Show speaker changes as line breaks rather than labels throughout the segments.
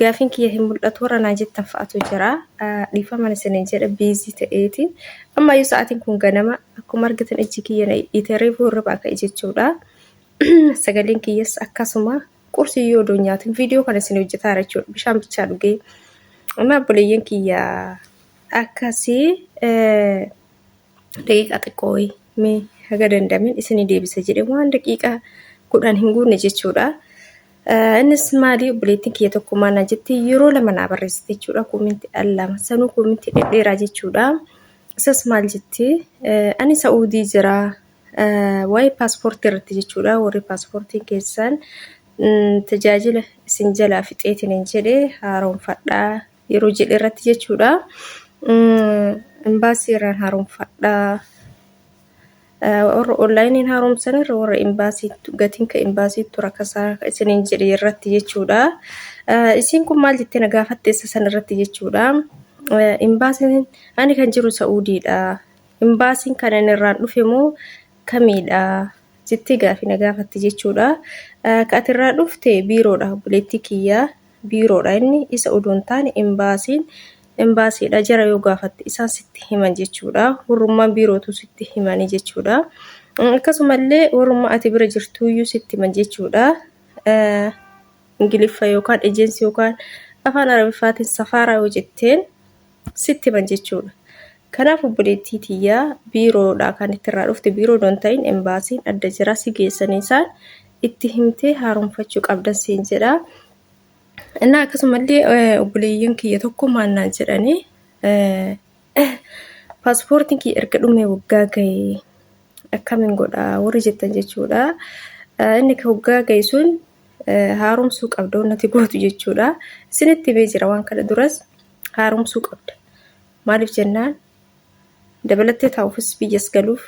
Gaafiin kiyya hin mul'atu warra naa jettan fa'atu jira. Dhiifaman isiniin jedha biizii ta'eeti. Ammayyuu sa'aatiin kun ganama akkuma argitan ijji kiyya na dhidhiite reefuu hirribaa ka'e jechuudha. Sagaleen kiyyas akkasuma qursii yoo odoon nyaatin viidiyoo kana isin hojjetaa jira jechuudha. Bishaan bichaa dhugee. Amma obboleeyyan kiyya akkasii daqiiqaa xiqqoo wayii mee haga danda'ameen isinii deebisa jedhe waan daqiiqaa kudhan hin guunne jechuudha. Eh, Innis maalii obboleettiin kiyya tokko maal na jette yeroo lama naa barreessite jechuudha koominti al lama sanuu koominti dhedheeraa jechuudha. Isas maal jetti eh, ani sa'uudii jira eh, waa'ee paaspoortii irratti jechuudha warri paaspoortiin keessan mm, tajaajila isin jalaa fixeetiin hin jedhe haaromfadhaa yeroo jedhe irratti jechuudha. Imbaasii irraan haaromfadha. Warra onlaayiniin haaromsan irra warra imbaasii gatiin ka imbaasiitu rakasaa isiniin jedhe irratti jechuudha. Isiin kun maal jettee na gaafatte isa san irratti jechuudha. Imbaasiin ani kan jiru Sa'uudiidha. Imbaasiin kan inni irraan dhufe moo kamiidha? jettee gaafii na gaafatte jechuudha. Ka ati irraa dhufte biiroodha obboleettii kiyya. biiroodha inni isa odoo hin taane imbaasiin imbaasiidha jara yoo gaafatte isaan sitti himan jechuudha warrummaan biirootu sitti himanii jechuudha akkasumallee warrummaa ati bira jirtuuyyuu sitti himan jechuudha ingiliffa yookaan ejensii yookaan afaan arabiffaatiin safaaraa yoo jetteen sitti himan jechuudha. Kanaaf obboleettii tiyyaa biiroodha kan itti irraa dhufte biiroo don ta'in embaasiin adda jiraa si geessanii isaan itti himtee haaromfachuu qabdan siin jedha. Innaa akkasumallee obboleeyyan kiyya tokko maal naan jedhanii paaspoortiin kiyya erga dhumee waggaa ga'e akkamiin godha warri jettan jechuudha. Inni waggaa ga'e sun haaromsuu qabda wannati gootu jechuudha. Isinitti himee jira waan kana duras. haaromsuu qabda. Maaliif jennaan dabalattee taa'uufis biyyas galuuf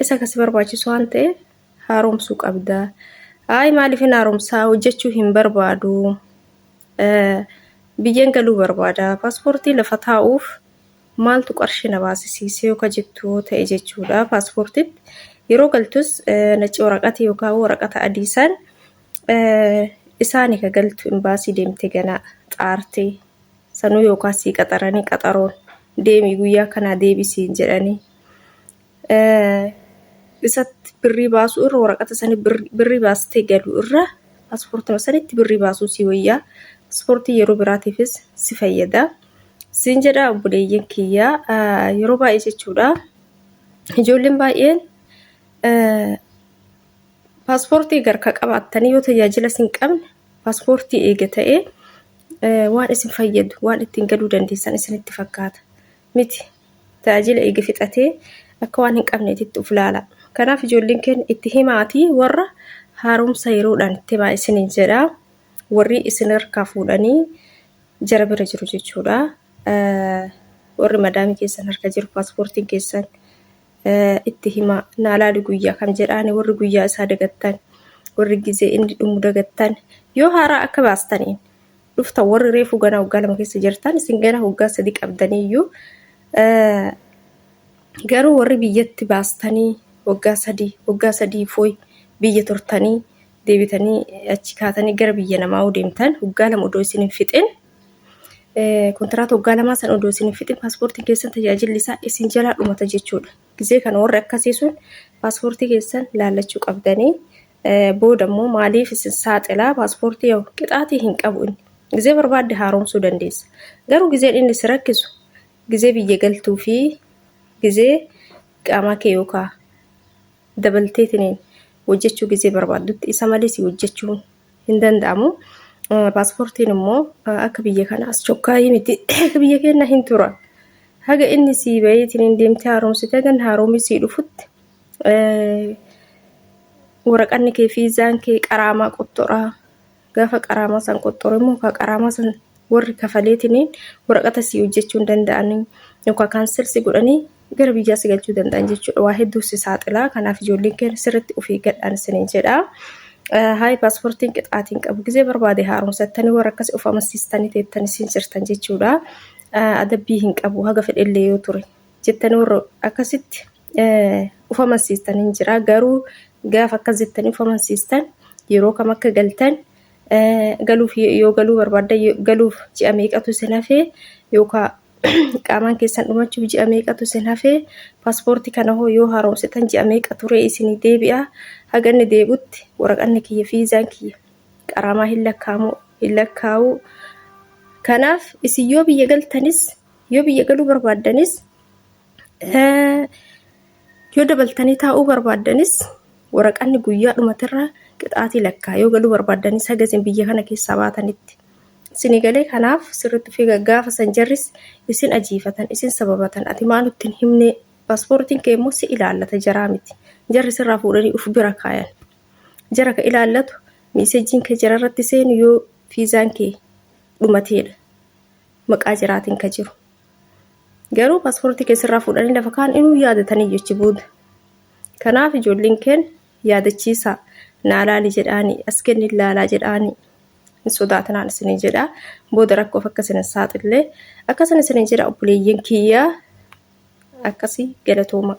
isa kasi barbaachisu waan ta'eef haaromsuu qabda. Ayi maaliif hin haaromsaa hojjechuu hin barbaadu. Biyyeen galuu barbaada. Paaspoortii lafa taa'uuf maaltu qarshii na baasisiisee yoo ka jettu yoo ta'e jechuudha. Paaspoortiitti yeroo galtus nacci waraqati yookaan waraqata adii san Isaani ka galtu imbaasii deemte ganaa xaartee sanuu yookaan sii qaxaranii qaxaroon deemii guyyaa kanaa deebisiin jedhanii isatti birrii baasuu irra waraqata sanii birrii baastee galu irra paaspoortii sanitti birrii baasuu sii wayyaa paaspoortii yeroo biraatiifis si fayyada siin jedha obboleeyyan kiyyaa yeroo baay'ee jechuudha ijoolleen baay'een Paaspoortii garka qabaattanii yoo tajaajila isin qabne paaspoortii eega ta'ee waan isin fayyadu waan ittiin galuu dandeessan isinitti fakkaata miti tajaajila eega fixatee akka waan hin qabneetitti of ilaala kanaaf ijoolleen keenya itti himaatii warra haaromsa yeroodhaan itti himaa isiniin jedha warri isin harkaa fuudhanii jara bira jiru jechuudha warri madaamii keessan harka jiru paaspoortiin keessan itti himaa naa laali guyyaa kam jedhaani warri guyyaa isaa dagattan warri gizee inni dhumu dagattan yoo haaraa akka baastaniin dhufta warri reefuu ganaa waggaa lama keessa jirtan isin ganaa waggaa sadi qabdaniiyyuu garuu warri biyyatti baastanii waggaa sadii waggaa sadii fooy biyya turtanii deebitanii achi kaatanii gara biyya namaa deemtan waggaa lama odoo isin hin fixin Kontiraata waggaa lamaa san odoo isin hin fixin paaspoortiin keessan tajaajilli isaa isin jalaa dhumata jechuudha. Gizee kana warri akkasii sun paaspoortii keessan laallachuu qabdanii booda immoo maaliif isin saaxilaa paaspoortii yoo qixaatii hin qabu inni. Gizee barbaadde haaromsuu dandeessa. Garuu gizeen inni si rakkisu gizee biyya galtuu fi gizee qaamaa kee yookaan dabalteetiniin hojjechuu gizee barbaaddutti isa malee si hojjechuun hin danda'amu. Paaspoortiin immoo akka biyya kana as chokkaayii miti akka biyya keenya hin tura. Haga inni sii baheetiin hin deemtee haaromsitee kan haaromii sii dhufutti waraqanni kee fiizaan kee qaraamaa qottoraa gaafa qaraamaa san qottoru immoo kaa qaraamaa san warri kafaleetiniin waraqata si hojjechuu hin danda'anii yookaan kaansel si godhanii gara biyyaa si galchuu danda'an jechuudha. Waa hedduu si saaxilaa. Kanaaf ijoolleen keenya sirriitti of eeggadhaan isiniin jedha. Haay paaspoortiin qixaatiin qabu gizee barbaade haaromsattanii warra akkasii of amansiistanii teettanii siin jirtan jechuudha. Adabbii hin qabu haga fedhellee yoo ture jettanii warra akkasitti of amansiistanii hin jira. Garuu gaafa akkas jettanii of amansiistan yeroo kam akka galtan galuuf yoo galuu barbaadda galuuf ji'a meeqatu sin hafee yookaan qaamaan keessan dhumachuuf ji'a meeqatu sin hafee paaspoortii kana hoo yoo haaromsitan ji'a meeqa turee isinii deebi'a haganni deebutti waraqanni kiyya fiizaan kiyya qaraamaa hin lakkaa'amu hin lakkaa'u kanaaf isin yoo biyya galtanis yoo biyya galuu barbaaddanis Yoo dabaltanii taa'uu barbaaddanis waraqanni guyyaa dhumatirra qixaatii lakkaa yoo galuu barbaaddanis haga isin biyya kana keessaa baatanitti. Isinii galee kanaaf sirriitti figa gaafa san jarris isin ajiifatan isin sababatan ati maa nutti hin himne paaspoortiin kee immoo si ilaallata jaraa miti. Jarri sirraa fuudhanii uf bira kaayan. Jara ka ilaallatu miisejjiin kee jara irratti seenu yoo fiizaan kee dhumateedha. Maqaa jaraatiin ka jiru. Garuu paaspoortii keessarraa fuudhanii lafa kaan inuu yaadatanii jechi booda. Kanaaf ijoolleen keen yaadachiisaa naa laali jedhaanii as kenni laalaa jedhaanii hin sodaatinaan isinii jedhaa booda rakkoof akka isin hin saaxillee akkasan isinii jedha obboleeyyan kiyyaa akkasii galatooma.